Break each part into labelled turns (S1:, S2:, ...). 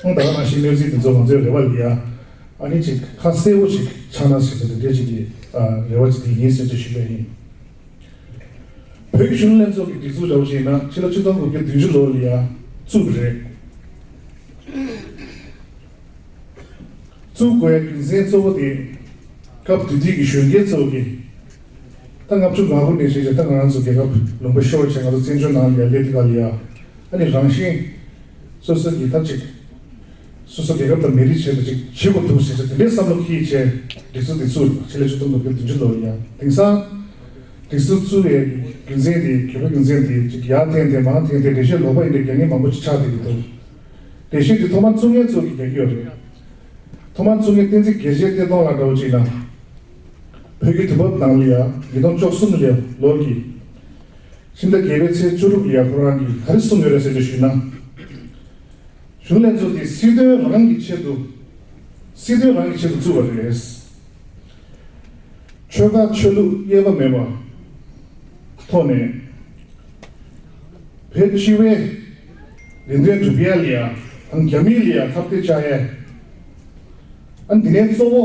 S1: ཁོང་ད་ལྟ་ནང་བཞིན་གནས་ཚུལ་འདི་ཚོ་ང་ཚོའི་རེ་བ་ལས་ཡ་ཨ་ནི་ཅིག་ཁ་གསལ་བོ་ཞིག་ཆགས་ན་ཞེས་པའི་འདི་འདྲའི་ཅིག་གི་རེ་བ་ཅིག་དེ་ཡིན་ཟེར་ཚུལ་ཞུས་པས་ཡིན། བོད་ཀྱི་གཞུང་ལྷན་ཚོགས་ཀྱི་སྒྲིག་འཛུགས་འདྲ་བོ་ཞིག་ཡིན་ན་ཕྱི་ལོ་བཅུ་སྟོང་དགུ་བརྒྱ་བདུན་ཅུ་ལོར་ལི་ཡ་བཙུགས་པ་རེད། བཙུགས་དགོས་རྒྱུ་མཚན་གཙོ་བོ་དེ་སྐབས་དུས་དེ་གི་གཞོན་སྐྱེས་ཚོ་གི་ད་ལྔ་བཅུ་ང་དགུ་ནས་བཤད་རྗེས་ད་ང་རང་ཚོ་རྒྱལ་ཁབ་ལུང་པ་ཤོར་བྱས་ང་ཚོ་བཙན་བྱོལ་ནང་ལི་ཡ་སླེབས་དུས་ད་ལི་ཡ་ཨ་ནི་རང་བཞིན། སོ་སོའི་རྒྱལ་ཁབ་ཅིག། སོ་སོའི་རྒྱལ་ཁབ་དང་མི་རིགས་བྱས་འདུག་ཅིག་བྱེད་དགོས་འདུག་ཟེར་ཚེ་དེ་འདྲའི་བསམ་བློ་ཁྱི་ཡིས་བྱས། སྒྲིག་སྲོལ་འདི་བཙུགས་ཆེད་ལས་བཅུ་གཏོང་དགོས་ཀྱི་བདུན་ཅུ་ལོ་ཡིན་ཡང་དེང་སང། སྒྲིག་སྲོལ་བཙུགས་བའི་རྒྱུ་མཚན་དེ་གལ་པོ་རྒྱུ་མཚན་དེ་ཅིག་ཡར་འཐེན་ཏེ་མར་འཐེན་ཏེ་འགྲེལ་བཤད་ལོག་པ་ཡིན་པའི་རྒྱ་ངན་མང་པོ་ཅིག་ཆགས་བསྡད་ཀྱི་འདུག་འགྲེལ་བཤད་འདི་ཐོག་མར་བཙུགས་མཁན་ཚོ་གིས་རྒྱག་གི་ཡོད་རེད། ཐོག་མར་བཙུགས་མཁན་བསྟན་འཛིན་དགེ་བཤེས་བསྟན་སྟོང་ལགས་འདྲ་བོ་ཅིག་ན། བོད་ཀྱི་དུས་བབ་ནང་ལ་ཡང་ཉིས་སྟོང་བཅོ་གསུམ་ལོར་གྱི། ཕྱི་ཟླ་བརྒྱད་པའི་ཚེས་བཅུ་དྲུག་གི་ཡར་ཁོ་རང་གིས་ག་རེ་གསུངས་ཡོད་རེད་ཟེར་དུས་ཞུས་ན། གཞུང་ལས་ཚོགས་ཀྱིས་སྲིད་དོན་རང་གི་ཆེད་དུ། སྲིད་དོན་རང་གི་ཆེད་དུ་བཙུགས་པ་རེད། ཆོལ་ཁ་ཆོས་ལུགས་དབྱེ་བ་མེད་པར་ཐོག་ནས། བོད་སྤྱི་བའི་རེ་འདུན་སྒྲུབ་ཡས་ལི་ཡ་དང་རྒྱ་མིའི་ལི་ཡ་ཁ་བརྡའི་བཅའ་ཡས། ཨ་འདི་ནས་གཙོ་བོ།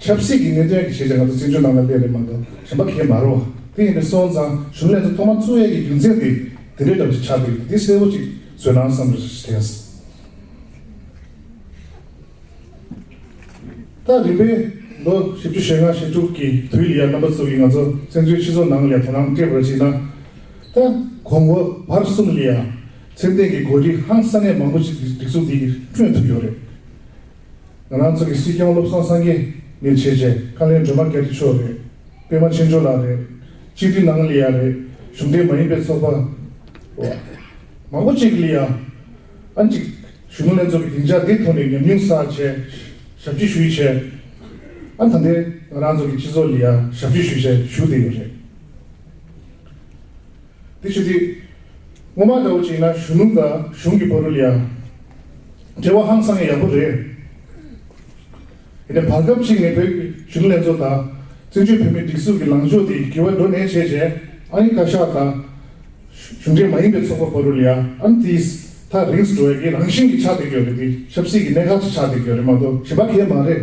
S1: ཆབ་སྲིད་ཀྱི་གནད་དོན་གྱི་ཤེས་བྱ་ང་ཚོ་བཙན་བྱོལ་ནང་ལ་གླས་རེད་མ་གཏོགས་གཞན་པ་གས་མ་རོགས། དེ་ཡིན་པས་སོང་ཙང་གཞུང་ལས་ཚོ་ཐོག་མར་བཙུན་ཡས་ཀྱི་རྒྱུ་མཚན་དེ་དེ་འདྲའི་འདྲ་པོ་ཞིག་ཆགས་ཀྱི་རེད་འདི་གསལ་བོ་ཅིག་བཟོས་ན་བསམ་རེ་ཞིག་དྲན། ད་རིམ་པས་ལོ་བཞི་བཅུ་ཞེ་ལྔ་ཞེ་དྲུག་གི་དུས་ལ་ཡར་རྣམ་པ་ཚོ་ཡིས་ང་ཚོ་བཙན་བྱོལ་སྤྱི་ཚོགས་ནང་ལས་དོ་སྣང་སྤྲད་པར་གཞིགས་ན། ད་གོང་འོག་བར་གསུམ་ལ་ཡང་ཚད་ལྡན་གྱི་གོ་སྒྲིག་ཧང་སང་ནས་མང་པོ་ཞིག་སྒྲིག་འཛུགས་འདི་གིས་སྤྲོད་ཐུབ་ཡོད་རེད། ང་རང་ཚོ་གི་སྲིད་སྐྱོང་བློ་བཟང་སངས་རྒྱས་ནས་བྱས་རྗེས་བཀའ་བློན་སྒྲོལ་མ་རྒྱ་ཁྲི་མཆོག་རེད། པད་མ་ཆེ་མཆོག་ལགས་རེད། སྤྱི་བདེ་ནང་ལི་ཡ་རེད། གཞུང་འབྲེལ་མ་ཡིན་པའི་ཚོགས་པ། མང་པོ་གཅིག་ལི་ཡ། ཨ་གཅིག། གཞུང་ལྷན་ཚོགས་ཀྱི་སྡིངས་ཆ་འདི་ཐོག་ནས་ཉམས་མྱོང་བསགས་ཆེད་ཞབས་སྤྱི་ཞུས་ཆེད། ཨ་ད་ལྟའི་ང་རང་ཚོ་གི་སྤྱི་ཚོགས་ལི་ཡ་ཞབས་སྤྱི་ཞུས་ཆེད་ཞུ་བསྡད་ཡོད་རེད། དེ་ཆུ་ཐིགས། སྔོན་མ་འདྲ་བོ་གཅིག་ན་གཞུ་ནུ་དང་གཞུང་གི་བ་རུལ་ཡང། འབྲེལ་བ་ཧང་སང་ཡག་པོ་རེད། ཡིན་ན་བར་སྐབས་གཅིག་ནས་བོད་ཀྱི་གཞུང་ལས་ཚོགས་དང། བཙན་བྱོལ་བོད་མིའི་སྒྲིག་འཛུགས་ཀྱི་ལངས་ཕྱོགས་དེ་འགྱུར་བ་འགྲོ་ནས་བྱས་བྱས་ཨང་ཡིན་བཀའ་ཤག་དང། གཞུང་འབྲེལ་མ་ཡིན་པའི་ཚོགས་པ་བ་རུལ་ཡང་ཨང་དེས་ཐག་རིང་སྒྲོལ་བས་ཀྱི་རང་བཞིན་གྱི་ཆགས་སྡེ་གྱོད་རེད་དེ་ཆབ་སྲིད་ཀྱི་གནད་འགག་ཆེ་ཆགས་སྡེ་གྱོད་རེད་མ་གཏོགས་གཞན་པ་གས་མ་རེད།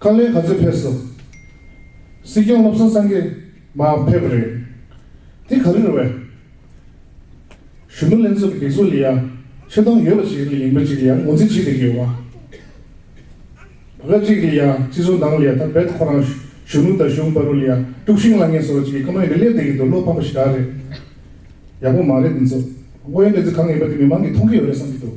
S1: ཁ་ལས་ག་ཚོད་ཕེབས་སོང། སྲིད་སྐྱོང་བློ་བཟང་སང་གེ། མ་ཕེབས་རེད། དེ་ག་རེ་རེད་བས། གཞོན་ནུ་ལྷན་ཚོགས་ཀྱི་སྒྲིག་འཛུགས་ལ་ཡང་ཆེ་མཐོང་ཡོད་པ་ཞིག་རེད་ལ་ཡིན་པ་ཅིག་ལ་ཡང་ངོ་འཛིན་བྱེད་དགོས་ཀྱི་ཡོད། བ་ག་ཅིག་ལ་ཡང་སྤྱི་ཟུར་ནང་ལ་ཡང་ད་བེད་ཁོ་རང་གཞོན་ནུ་དང་གཞུང་སྦ་རུ་ལ་ཡང་དཀྲུག་ཤིང་བསླང་མཁན་སོགས་ཅིག་གི་ཁ་མོན་གྱི་སླེབས་བསྡད་ཀྱི་འདུག་བློ་ཕམ་པ་ཞིག་ག་རེད། ཡག་པོ་མ་རེད་འདི་ཚོ། དབུ་ཡོན་འདི་ཚོ་གང་ཡིན་པ་དེ་མི་མང་གིས་མཐོང་གི་ཡོད་རེད་བསམ་གྱི་འདུག།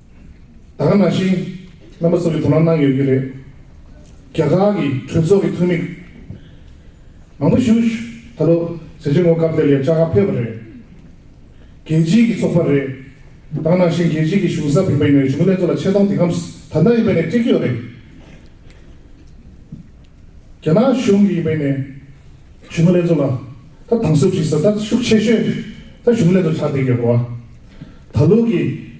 S1: ད་ག་ནང་བཞིན་རྣམ་པ་ཚོ་གི་དོ་སྣང་གནང་ཡོད་ཀྱི་རེད། རྒྱ་གར་གྱི་གྲོས་ཚོགས་ཀྱི་འཐུས་མི་མང་པོ་ཞུ་ད་ལོ་ཟེར་ཆེན་ངོ་སྐབས་དེར་ཡང་བཅའ་ཁ་ཕེབས་པ་རེད། རྒྱལ་སྤྱིའི་གྱི་ཚོགས་པ་རེད། ད་ག་ནང་བཞིན་རྒྱལ་སྤྱིའི་གྱི་གཞུང་ས་བིམ་པ་ཡིན་ནའི་གཞུང་ལས་ཚོ་ལ་ཆེ་མཐོང་དེ་ཁམས་ད་ནང་ཡིན་པའི་ནས་སྤྲད་ཀྱི་ཡོད་རེད། རྒྱ་ནག་གཞུང་གི་ཡིན་པའི་ནས་གཞུང་ལས་ཚོ་ལ་ད་དང་ཟུར་བྱེད་ས་ད་ཤུགས་ཆེ་ཤོས་ད་གཞུང་ལས་ཚོ་ཆགས་བསྡད་ཀྱི་ཡོད་རེད་བ། ད་ལོ་གི་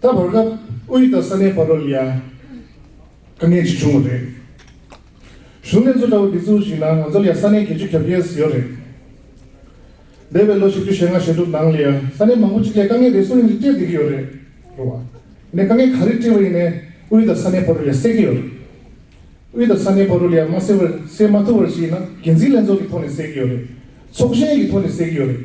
S1: ད་བར་སྐབས་དབུས་དང་ས་གནས་བར་རོ་ལི་ཡ་དཀའ་ངལ་ཅིག་བྱུང་བ་རེད། གཞུང་ལས་བཟོ་འདྲ་བོ་འདི་ཚོ་ཞིག་ནང་ང་ཚོར་ཡང་ས་གནས་བརྒྱད་ཅུ་གྱ་བརྒྱད་ཟེར་ཡོད་རེད། འདས་པའི་ལོ་བཞི་བཅུ་ཞེ་ལྔ་ཞེ་དྲུག་ནང་ལི་ཡ་ས་གནས་མང་པོ་ཅིག་ལས་དཀའ་ངལ་རེ་ཟུང་ཡང་ཅིག་སྤྲད་བསྡད་ཀྱི་ཡོད་རེད། རེད་བ། ནས་དཀའ་ངལ་ག་རེ་སྤྲད་པ་ཡིན་ནས་དབུས་དང་ས་གནས་བར་རོ་ལི་ཡ་སེལ་གྱི་ཡོད་རེད། དབུས་དང་ས་གནས་བར་རོ་ལི་ཡ་མ་སེལ་བར་སེལ་མ་ཐུབ་བར་ཞིག་ཡིན་ན་འགན་འཛིན་ལྷན་ཚོགས་ཀྱི་ཐོག་ནས་སེལ་གྱི་ཡོད་རེད། ཚོགས་ཞེན་གྱི་ཐོག་ནས་སེལ་གྱི་ཡོད་རེད།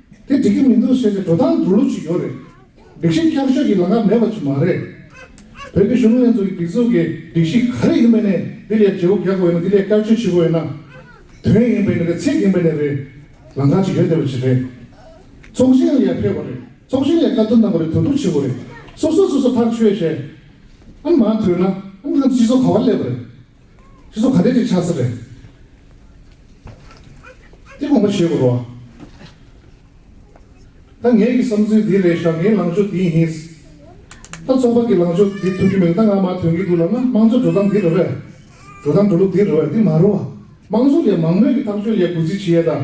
S1: དེ་འགྲིག་གི་མི་འདུག་ཟེར་ཏེ་འགྲོ་སྟངས་སྒྲོལ་ལུགས་ཅིག་ཡོད་རེད། སྒྲིག་གཞི་བསྐྱར་བཅོས་ཀྱི་ལག་ཁ་མེད་པ་ཅིག་མ་རེད། བོད་ཀྱི་གཞུང་ལྷན་ཚོགས་ཀྱི་སྒྲིག་འཛུགས་ཀྱི་སྒྲིག་གཞི་ག་རེ་ཡིན་པ་ནས་འདི་ལས་འབྲས་བུ་རྒྱག་དགོས་ན་འདི་ལས་བསྐྱར་བཅོས་བྱེད་དགོས་ན། དོན་ཡིན་པས་ནས་རེད་ཚིག་ཡིན་པས་ནས་རེད། ལམ་ཁ་ཅིག་ཡོད་བསྡད་པ་ཅིག་རེད། ཚོགས་ཆེན་ལ་ཡར་ཕེབས་པ་རེད། ཚོགས་ཆེན་ལས་བཀའ་བསྡུར་གནང་པ་རེད་དོན་གྲུབ་བྱེད་དགོས་རེད། སོ་སོ་སོ་སོ་ཐག་ཆོད་བྱས། ཨང་མ་ཐོས་ན་ཨང་གི་སྤྱི་ཚོགས་ག་བར་སླེབས་པ་རེད། ཁྱོད་ཚོ་ག་དུས་ཀྱི་ཆགས་སྲེད་རེད། དེ་དགོངས་པ་བཞེས་དགོས་རོགས། ད་ངེད་ཀྱི་བསམ་ཚུལ་འདི་རེད་ཞག་ངའི་ལངས་ཕྱོགས་འདི་ཡིན། ད་ཚོགས་པ་ཀྱི་ལངས་ཕྱོགས་འདི་ཐུབ་ཀྱི་མེད་ད་ང་མར་དོན་གྱི་འདུག་ལབ་ན་དམངས་གཙོ་འགྲོ་སྟངས་འདི་རེད་བས། འགྲོ་སྟངས་འགྲོ་ལུགས་འདི་རེད་བས་འདི་མ་རུ་བ། དམངས་གཙོ་ལས་མང་མོས་ཀྱི་ཐག་གཅོད་ལས་གུས་བརྩི་བྱེད་ཡས་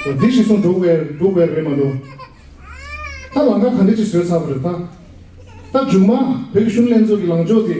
S1: དང། འདི་ཞིག་སོང་འགྲོ་བས་འགྲོ་བས་རེད་མ་གཏོགས། ད་ལང་ཀ་ག་འདྲ་ཅིག་བཟོས་ཚར་བ་རེད་ད། ད་མཇུག་མ་བོད་ཀྱི་གཞུང་ལྷན་ཚོགས་ཀྱི་ལངས་ཕྱོགས་དེ།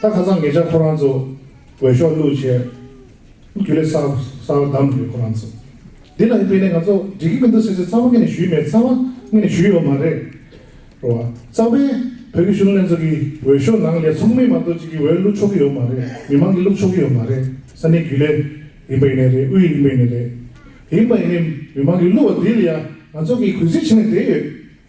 S1: ད་ཁ་ཚང་ངེད་ཅག་ཁོ་རང་ཚོ་འོས་ཤོག་བླུག་ཆེད་རྒྱུ་ལས་གསར་བ་བདམས་ནི་རེད་ཁོ་རང་ཚོ་འདི་ལ་དཔེ་ནས་ང་ཚོ་འགྲིག་གི་མི་འདུག་ཟེར་ཚེ་ཚགས་པ་ངེད་ནས་ཞུས་མེད་ཚགས་པ་ངེད་ནས་ཞུས་ཡོད་མ་རེད་རོ། ཚགས་པས་བོད་ཀྱི་གཞུང་ལས་ཚོགས་ཀྱི་འོས་ཤོག་ནང་ལས་ཚོགས་མི་མང་གཙོ་གཅིག་གི་འོས་བླུག་ཆོག་གི་ཡོད་མ་རེད་མི་མང་གི་བླུག་ཆོག་གི་ཡོད་མ་རེད་ས་གནས་རྒྱུ་ལས་ཡིན་པ་ཡིན་ནས་རེད་དབུས་ཡིན་པ་ཡིན་ནས་རེད། ཡིན་པ་ཡིན་ནས་མི་མང་གི་བླུག་བ་འདི་ལ་ཡང་ང་ཚོ་གིས་གུས་བརྩི་བྱེད་ནས་བསྡད་ཡོད།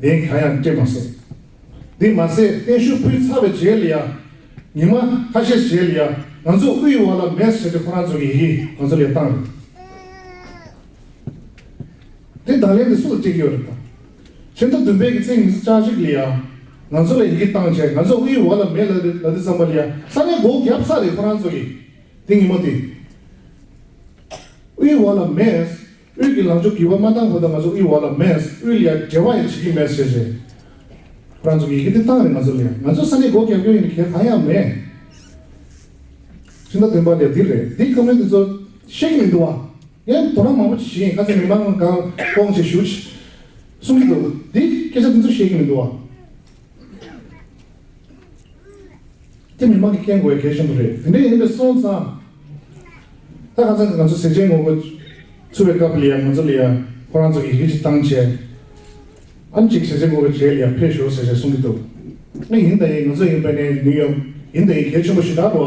S1: གདན་གང་ཡང་སྤྲད་མ་ཟད། དེ་མ་ཟད་བརྟན་བཞུགས་ཕུལ་ཚར་བའི་རྗེས་ལ་ཡང། ཉི་མ་ཁ་ཤས་རྗེས་ལ་ཡང་ང་ཚོ་དབུས་ཡུལ་བ་ལ་མེར་བསྲེགས་དེ་ཁོ་རང་ཚོ་གི་ཡི་གེ་ང་ཚོ་ལས་བཏང་རེད། དེ་དང་ལེན་དེ་སུ་ལ་སྤྲད་ཀྱི་ཡོད་རེད་དམ། ཕྱི་ཟླ་བདུན་པའི་གི་ཚེས་ཉི་ཤུ་རྩ་གཅིག་ལ་ཡང་ང་ཚོ་ལ་ཡི་གེ་བཏང་རྗེས་ང་ཚོ་དབུས་ཡུལ་བ་ལ་མེར་ལ་དེ་ལ་དེ་བརྩམས་པ་ལ་ཡང་ས་གནས་སྒོ་བརྒྱབ་ས་རེད་ཁོ་རང་ཚོ་གི། དེ་ཉིན་མོ་དེ་དབུས་ཡུལ་བ་ལ་མེར། དབུས་ཀྱི་ལམ་ཆོག་གི་བ་མ་བཏང་བོ་ད་ང་ཚོ་དབུས་བ་ལ་མེད་དབུས་ལ་ཡ་འབྲེལ་བ་ཡ་བྱེད་ཀྱི་མེད་ཟེར་རེད་རང་ཚོ་གི་ཡི་གེ་དེ་བཏང་རེད་ང་ཚོ་ལ་ཡ་ང་ཚོ་ས་གནས་སྒོ་རྒྱབ་སྐྱོར་ཡིན་གལ་གང་ཡང་མེད་ཕྱི་ཟླ་བདུན་པ་ལ་ཡ་འདི་རེད་འདི་ཁ་མོ་འདི་ཚོ་ཤེས་ཀྱི་མི་འདུག་བ་ཡ་དོ་རང་མང་པོ་བྱེད་བཞིན་ཡིན་ཁ་ཚེ་མི་མང་གང་དཀོང་ཆེ་ཞུ་ཆེ་གསུང་གི་འདུག་འདི་སྐད་ཆ་འདི་ཚོ་ཤེས་ཀྱི་མི་འདུག་བ། དེ་མི་མང་གི་སྐད་འགོ་བའི་གལ་ཆེན་པོ་རེད། དེ་འདྲ་ཡིན་པས་སོང་ཙང། ད་ག་ཚང་གི་ང་ཚོ་ཟས་བཅད་ངོ་རྒོལ་ཚུར་བའི་སྐབས་ལ་ཡང་ང་ཚོ་ལ་ཡང་ཁོ་རང་ཚོ་ཡི་གེ་གཅིག་བཏང་བྱས། ཨམ་གཅིག་ཟས་བཅད་ངོ་རྒོལ་བྱས་ལ་ཡང་ཕེབས་ཞོག་ཟེར་ཞེས་གསུང་གི་འདུག། ང་ཡིན་ད་ཡིན་ང་ཚོ་ཡིན་པ་ནས་ནུས་ཡོད་ཡིན་ད་ཡིན་གལ་ཆེན་པོ་ཞིག་དག་གོ།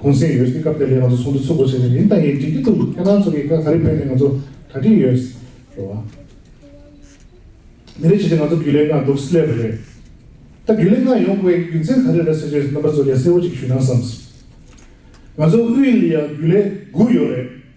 S1: གུང་གསེང་ཡོད་སྲིད་སྐབས་དེ་ལས་ང་ཚོ་ཚོགས་འདུ་ཚུགས་དགོས་བྱས་ནས་མིང་དང་ཡིག་འབྲི་རྒྱུ་འདུག་ཁྱེད་རང་ཚོ་གིས་དཀའ་ག་རེ་ཕན་ནས་ང་ཚོ་གྲ་སྒྲིག་ཡོད། རེད་བ། མི་རེ་བྱས་ཏེ་ང་ཚོ་རྒྱུས་ལས་ལྔ་འདུག་སི་ལེ་བ་རེད། ད་རྒྱུས་ལས་ལྔ་ཡོང་དགོས་ཀྱི་རྒྱུ་མཚན་ག་རེ་རེད་ཟེར་རྗེས་རྣམ་པ་ཚོ་ལས་གསལ་བོ་ཅིག་ཞུས་ན་བསམ། ང་ཚོ་དབུས་ལ་རྒྱུས་ལས་དགུ་ཡོད་རེད།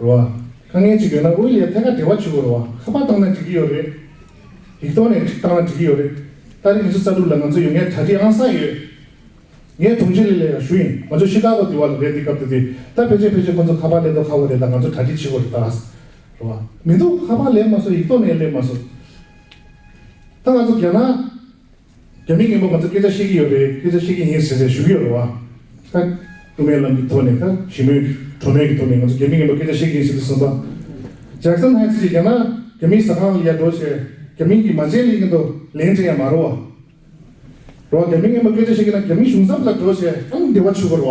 S1: རེད་བ། དཀའ་ངལ་ཅིག་ཡོད་ན་དབུས་ལས་ཐད་ཀར་འབྲེལ་བ་བྱེད་དགོས་རེད་བ་ཁ་པར་བཏང་ན་འགྲིག་གི་ཡོད་རེད། ཡིག་ཐོག་ནས་བཏང་ན་འགྲིག་གི་ཡོད་རེད། ལྟ་རེ་ངེད་ཚོ་ས་དྲུག་ལ་ང་ཚོ་ཡོད་ངེས་གྲ་སྒྲིག་ཨང་གསང་ཡོད། ངས་དྲུང་ཆེ་ལས་ལས་ཀ་ཞུ་ཡིན་ང་ཚོ་ཤི་ཀ་གོ་དེ་བ་ལ་རེད་འདི་སྐབས་དེ་དུས་ད་ཕལ་ཆེར་ཕལ་ཆེར་ཁོ་ཚོ་ཁ་པར་ལས་ཐོག་ཁ་བོ་རེད་ད་ང་ཚོ་གྲ་སྒྲིག་བྱེད་དགོས་རེད་ད། རེད་བ། མི་འདུག་ཁ་པར་ལས་མ་བཟོ་ཡིག་ཐོག་ནས་ལས་མ་བཟོ། ད་ང་ཚོ་རྒྱ་ནག། རྒྱ་མི་ངན་པ་ང་ཚོ་སྐད་ཆ་བཤད་ཀྱི་ཡོད་པས་སྐད་ཆ་བཤད་ཀྱི་ཡིན་ཟེར་ནས་ཞུ་གི་ཡོད་རེད་བ། ཁ། དབུ་མའི་ལམ་གྱི་ཐོག་ནས་ཁ་ཞི་མོའི་གྲོ་མོའི་གྱི་ཐོག་ནས་ང་ཚོ་རྒྱ་མི་ངན་པ་སྐད་ཆ་བཤད་ཀྱི་ཡིན་ཟེར་གྱི་སོང་པ། Jackson Heights ཅེས་ཀྱང་ན་རྒྱ་མིའི་ཟ་ཁང་ལ་ཡར་འགྲོ་ཞེས་རྒྱ་མིང་གིས་མ་མཇལ་ལེན་གྱི་འདུག་ལན་དྲན་ཡང་མ་རུ་བ། རོ། རྒྱ་མི་ངན་པ་སྐད་ཆ་བཤད་ཀྱི་ན་རྒྱ་མི་གཞུང་ཚབ་ལ་འགྲོ་ཞེས་ཨང་བདེ་བ་ཆུ་བོར་བ།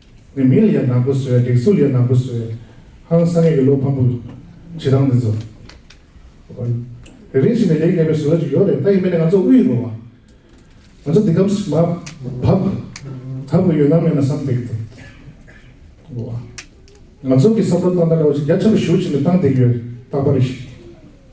S1: ནས་མི་ལ་ཡ་ནག་པོ་བཟོས་སྒྲིག་འཛུགས་ལ་ཡ་ནག་པོ་བཟོས། ཧང་སངས་ཡས་ཀྱི་བློ་ཕམ་པོ། བྱེད་སྟངས་འདི་ཚོ། རེ་རེ་བཞིན་ནས་ལེགས་ཉེས་པའི་བཟོ་ལ་ཅིག་ཡོད་རེད་ད་ཡིན་མིན་ནས་ང་ཚོ་དབུས་རུ། ང་ཚོ་འདི་གམ་སྨ། བབ། ཐབ་ཀྱི་ཡོད་སྣང་མེད་ན་བསམ་འདེགས་ཏེ། ང་ཚོ་གི་བསམ་བློ་སྟངས་ད་ལྟ་བ་ཅིག་རྒྱ་ཆེན་པོ་ཞུགས་ཕྱིན་ནས་སྟངས་འདེགས་ཡོད་རྟག་པ་རེད།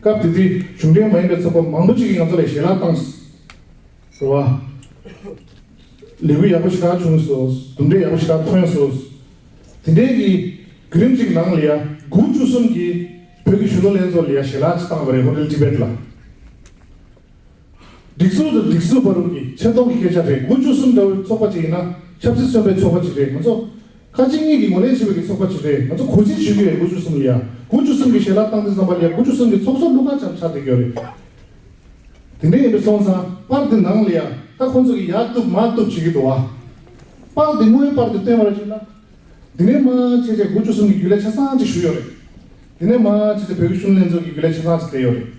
S1: སྐབས་དེ་དུས་གཞུང་འབྲེལ་མ་ཡིན་པའི་ཚོགས་པ་མང་པོ་ཞིག་གིས་ང་ཚོ་ལ་ཞལ་ལག་བཏང། རེད་བ། ལས་འགུལ་ཡག་པོ་ཞེ་དྲག་བྱུང་སོ། གྲུབ་འབྲས་ཡག་པོ་ཞེ་དྲག་ཐོན་སོ། དེ་འདྲའི་གི་བརྒྱུད་རིམ་ཞིག་གི་ནང་ལ་ཡ་གུ་བཅུ་གསུམ་གྱི་བོད་ཀྱི་གཞོན་ནུ་ལྷན་ཚོགས་ལ་ཡ་ཞལ་ལག་ཅིག་བཏང་བ་རེད་ཧོ་ཏེལ་ཏི་བེད་ལ། སྒྲིག་འཛུགས་དང་སྒྲིག་བཟོ་བར་རུང་གི་ཆེ་མཐོང་གི་སྐད་ཆ་རེད་དགུ་བཅུ་གསུམ་འདྲ་བོའི་ཚོགས་པ་ཅིག་ཡིན་ན་ཆབ་སྲིད་གསོན་པའི་ཚོགས་པ་ཅིག་རེད་ང་ཚོ། ཁ་ཅིག་གཉིས་ཀྱིས་ངོ་ལེན་བྱེད་པའི་གི་ཚོགས་པ་ཅིག་རེད་ང་ཚོ་གུས་བརྩི་ཞུས་ཀྱི་རེད་དགུ་བཅུ་གསུམ་ལ་ཡ་དགུ་བཅུ་གསུམ་གི་ཞལ་ལག་བཏང་སྟེ་བསམ་པར་ཡ་དགུ་བཅུ་གསུམ་གི་ཚོགས་གཙོ་ཀླུ་མཁར་བྱམས་ཆགས་བསྡད་ཀྱི་རེད། དེ་འདྲ་ཡིན་པས་སོང་ཙང་པར་དེ་ནང་ལ་ཡ་ད་ཁོང་ཚོ་གི་ཡ་བཏུབ་མ་བཏུབ་བྱེད་ཀྱི་འདུག་ཨ། པར་དེ་དངོས་པར་དུ་བཏོན་པ་རེད་ཅེ་ན། དེ་ནས་མ་ཆེ་ཆེ་དགུ་བཅུ་གསུམ་གི་རྒྱུ་ལས་ཆ་ཚང་ཅིག་ཞུས་ཡོད་རེད། དེ་ནས་མ་ཆེ་ཆེ་བོད་ཀྱི་གཞུང་ལྷན་ཚོགས་ཀྱི་རྒྱུ་ལས་ཆ་ཚང་ཅིག་བསྡད་ཡོད་རེད།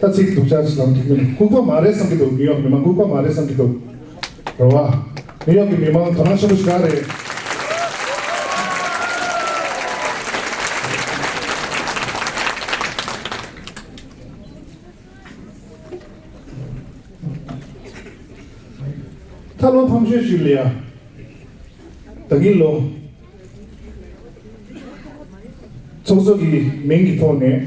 S1: ལྟ་ཚིག་སྡུག་ཅག་ཅིག་ལམ་དུ་བསྐྱུར་ནས་ལྐུག་པ་མ་རེད་བསམ་གྱི་འདུག་ནིའུ་ཡོག་མི་མང་ལྐུག་པ་མ་རེད་བསམ་གྱི་འདུག་རེད་བ། ནིའུ་ཡོག་གི་མི་མང་དོ་སྣང་ཆེན་པོ་ཞིག་ག་རེད། ད་བློ་ཕམ་ཤོས་ཤིག་ལ་ཡ། ད་གིན་ལོ། ཚོགས་གཙོ་གི་མིང་གི་ཐོག་ནས།